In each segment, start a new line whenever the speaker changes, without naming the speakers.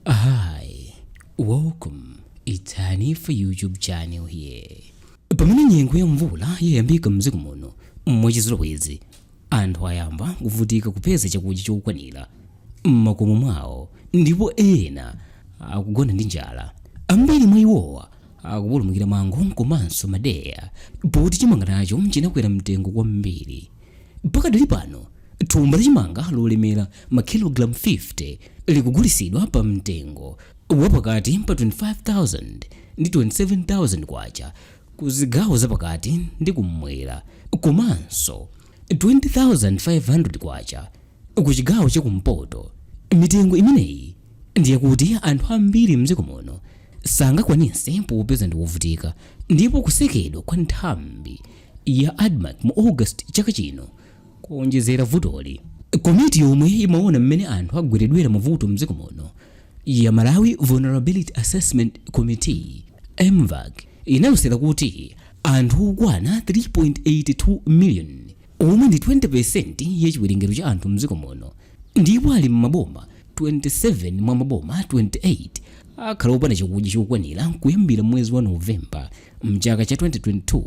Hi, welcome. It's Hani for YouTube channel here. Pamene nyengo ya mvula yayambika mdziko muno mwachizolowezi, anthu ayamba kuvutika kupeza chakudya chokwanira m'makomo mwawo ndipo ena akugona ndi njala. Ambiri mwa iwowa akupulumukira mango komanso madeya pakuti chimanga nacho chinakwera mtengo kwambiri. Pakadali pano, thumba la chimanga lolemera makilogalamu 50 likugulisidwa pa mtengo wa pakati pa 25,000 ndi 27,000 kwacha ku zigawo za pakati ndi kummwera komanso 20,500 kwacha ku chigawo cha kumpoto. Mitengo imeneyi ndi yakuti anthu ambiri mdziko muno sangakwanise popeza ndi wovutika ndipo kusekedwa kwa nthambi ya admarc mu august chaka chino kuonjezera vutoli komiti yomwe imaona mmene anthu agweredwera mavuto mdziko muno ya malawi vulnerability assessment committee mvac inalosera kuti anthu okwana 3.82 million omwe ndi 20 percent ya chiwerengero cha anthu mdziko muno ndipo ali m'maboma 27 mwa maboma 28 akhala opanda chakudya chokwanira kuyambira m'mwezi wa novemba mchaka cha 2022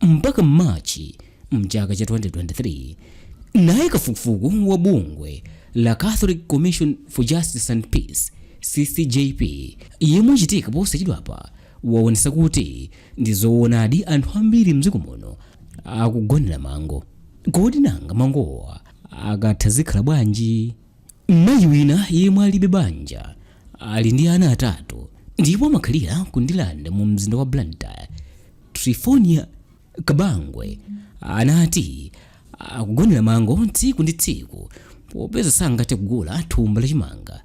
mpaka Machi mchaka cha 2023. Naye kafukufuku wa bungwe la Catholic Commission for Justice and Peace CCJP yemwe wachitika posachedwapa waonesa kuti ndi zoonadi anthu ambiri mdziko muno akugonera mango. Kodi nanga mangowa akatha zikhala bwanji? Mayi wina yemwe alibe banja ali ndi ana atatu ndipo amakhalira ku Ndilande mu mzinda wa Blantyre, Trifonia Kabangwe anati akugonera mango tsiku ndi tsiku popeza sangathe kugula thumba la chimanga.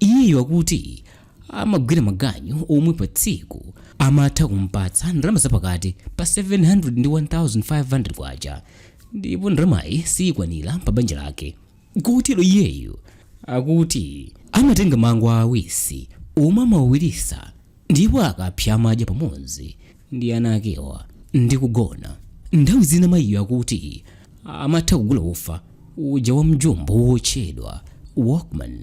Iyeyo akuti amagwira maganyu omwe pa tsiku amatha kumpatsa ndalama zapakati pa 700 ndi 1500 kwacha ndipo ndalamayi siyikwanira pa banja lake. Kotero iyeyo akuti amatenga mango aawisi omwe amawawirisa ndipo akapsa amadya pamodzi ndi ana akewa ndi kugona. Nthawi zina mayiyo akuti amatha kugula ufa uja wa mjumbo wotchedwa Walkman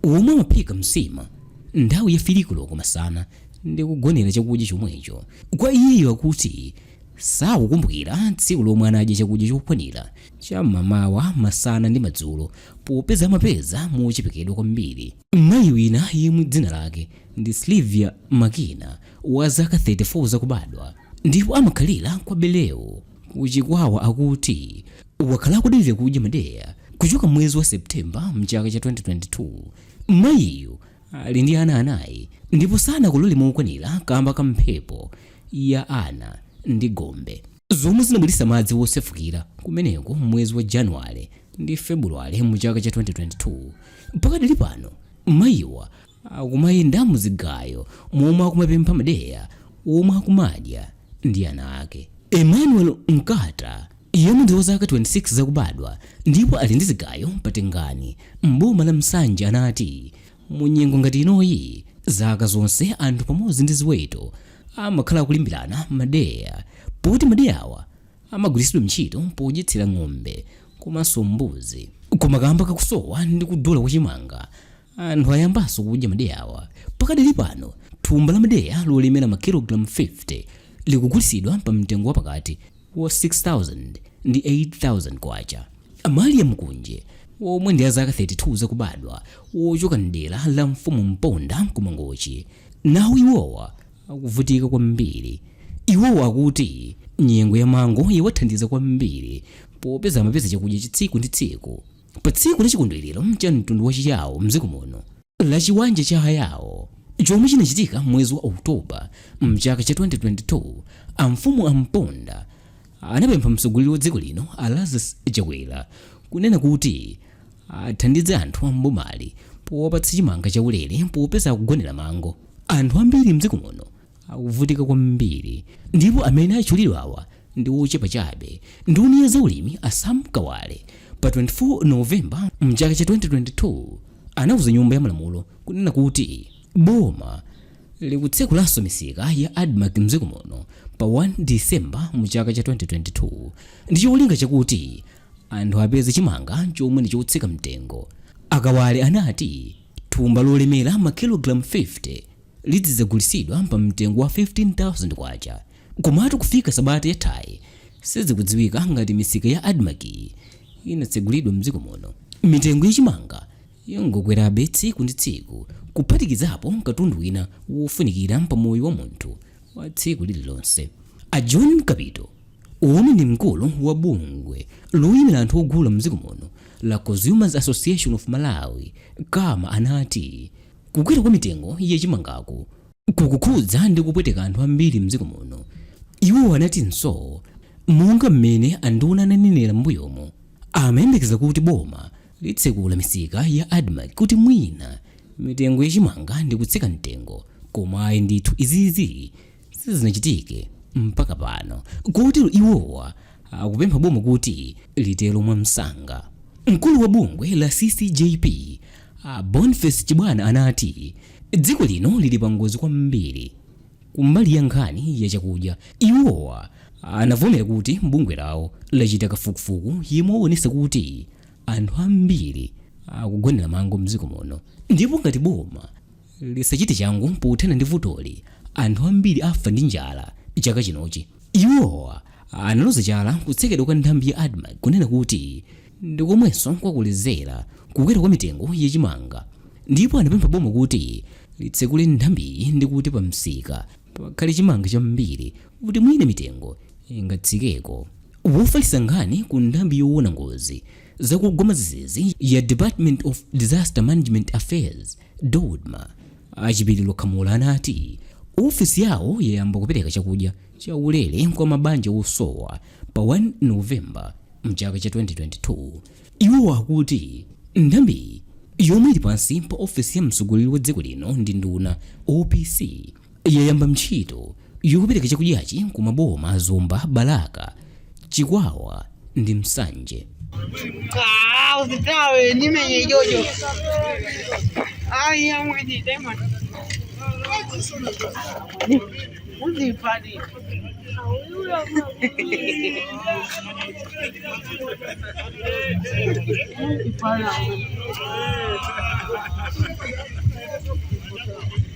omwe amaphika msima nthawi ya firi koloko masana ndi kugonera chakudya chomwecho. Kwa iyeyo akuti sakukumbukira tsiku lomwe anadya chakudya chokwanira. cham'mamawa, masana ndi madzulo popeza amapeza mochepekedwa kwambiri. Mayi wina yemwe dzina lake ndi Sylvia Makina wa zaka 34 zakubadwa ndipo amakhalira kwa Bereu ku Chikwawa akuti wakhala akudalira kudya madeya kuchoka mwezi wa Septemba mchaka cha 2022. Mayiyu ali ndi ana anayi ndipo sanakolole mokwanira kamba ka mphepo ya Ana ndi Gombe. zomwe zinabweretsa madzi wosefukira kumeneko m'mwezi wa januwale ndi februwale mu chaka cha 2022 pakadali pano mayiwa akumayenda mu zigayo momwe akumapempha madeya omwe akumadya ndi ana ake emmanuel nkata yemwe ndi wa zaka 26 zakubadwa ndipo ali ndi zigayo pa tengani m'boma la nsanje anati mu nyengo ngati inoyi zaka zonse anthu pamodzi ndi ziweto amakhala akulimbirana madeya poti madeyawa amagwiritsidwa ntchito podyetsera ng'ombe komanso mbuzi koma kamba kakusowa ndi kudula kwa chimanga anthu ayambanso kudya madeyawa pakadali pano thumba la madeya lolemera makilogalamu 50 likugulitsidwa pa mtengo wapakati wa K6,000 ndi K8,000, a Malia Mkunje omwe ndi a zaka 32 zakubadwa wochoka m'dera la mfumu Mponda ku Mangochi, nawo iwowa akuvutika kwambiri. Iwowa akuti nyengo ya mango yawathandiza kwambiri popeza amapeza chakudya cha tsiku ndi tsiku pa tsiku la chikondwerero cha mtundu wa Chiyawo m'dziko muno. la Chiwanja cha Ayao chomwe chinachitika m'mwezi wa October m'chaka cha 2022, amfumu a Mponda anapempha mtsogoleri wa dziko lino a Lazarus Chakwera kunena kuti athandize anthu a m'bomali powapatsa chimanga chaulere popeza akugonera mango anthu ambiri m'dziko muno. akuvutika kwambiri ndipo amene achulidwawa ndi ochepa chabe nduna ya zaulimi a sam kawale pa 24 novemba mchaka cha 2022 anauza nyumba ya malamulo kunena kuti boma likutsekulanso misika ya admarc mdziko muno pa 1 disemba mchaka cha 2022 ndi cholinga chakuti anthu apeze chimanga chomwe ndi chotsika mtengo a kawale anati Thumba lolemera makilogalamu 50 lizidzagulitsidwa pa mtengo wa K15,000 komatu kufika sabata yathayi sizikudziwika ngati misika ya Admarc-yi inatsegulidwa mdziko muno. Mitengo ya chimanga yangokwerabe tsiku ndi tsiku kuphatikizapo katundu wina wofunikira pa moyo wa munthu wa tsiku lililonse. A John Kapito, omwe ndi mkulu wa bungwe loyimira anthu ogula mdziko muno la Consumers Association of Malawi, Cama, anati kukwera kwa mitengo ya chimangaku kukukhudza ndi kupweteka anthu ambiri mdziko muno. Iwo anatinso monga mmene anduna ananenera m'mbuyomu, amayembekeza kuti boma litsekula misika ya Admarc kuti mwina mitengo ya chimanga ndikutsika mtengo koma ayi ndithu izizi sizinachitike mpaka pano kotero iwowa akupempha boma kuti litero mwamsanga mkulu wa bungwe la ccjp boniface chibwana anati dziko lino lili pangozi kwambiri kumbali ya nkhani ya chakudya iwowa anavomera kuti bungwe lawo lachita kafukufuku yemwe waonesa kuti anthu ambiri akugonera mango mdziko muno ndipo ngati boma lisachite changu pothana ndi vutoli, anthu ambiri afa ndi njala chaka chinochi. Iwowa analoza chala kutsekedwa kwa nthambi ya Admarc kunena kuti ndi komwenso kwakolezera kukwera kwa mitengo ya chimanga ndipo anapempha boma kuti litsekule nthambiyi ndi kuti pamsika pakhale chimanga chambiri kuti mwina mitengo ingatsikeko. Wofalitsa nkhani ku nthambi yoona ngozi zakugwa mwadzidzidzi ya Department of Disaster Management Affairs, Dodma a Chipiliro Khamula anati ofesi yawo yayamba kupereka chakudya chaulere kwa mabanja osowa pa 1 November mchaka cha 2022. Iwo akuti nthambiyi yomwe ili pansi pa ofesi ya mtsogoleri wa dziko lino ndi nduna, OPC, yayamba ntchito yokapereka chakudyachi ku maboma a Zomba, Balaka, Chikwawa ndi Nsanje. Ah, usitawe
nimenye jojo. Ai, amwe ni demon. Uzi padi. Ipala.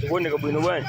Chikuoneka bwino bwana.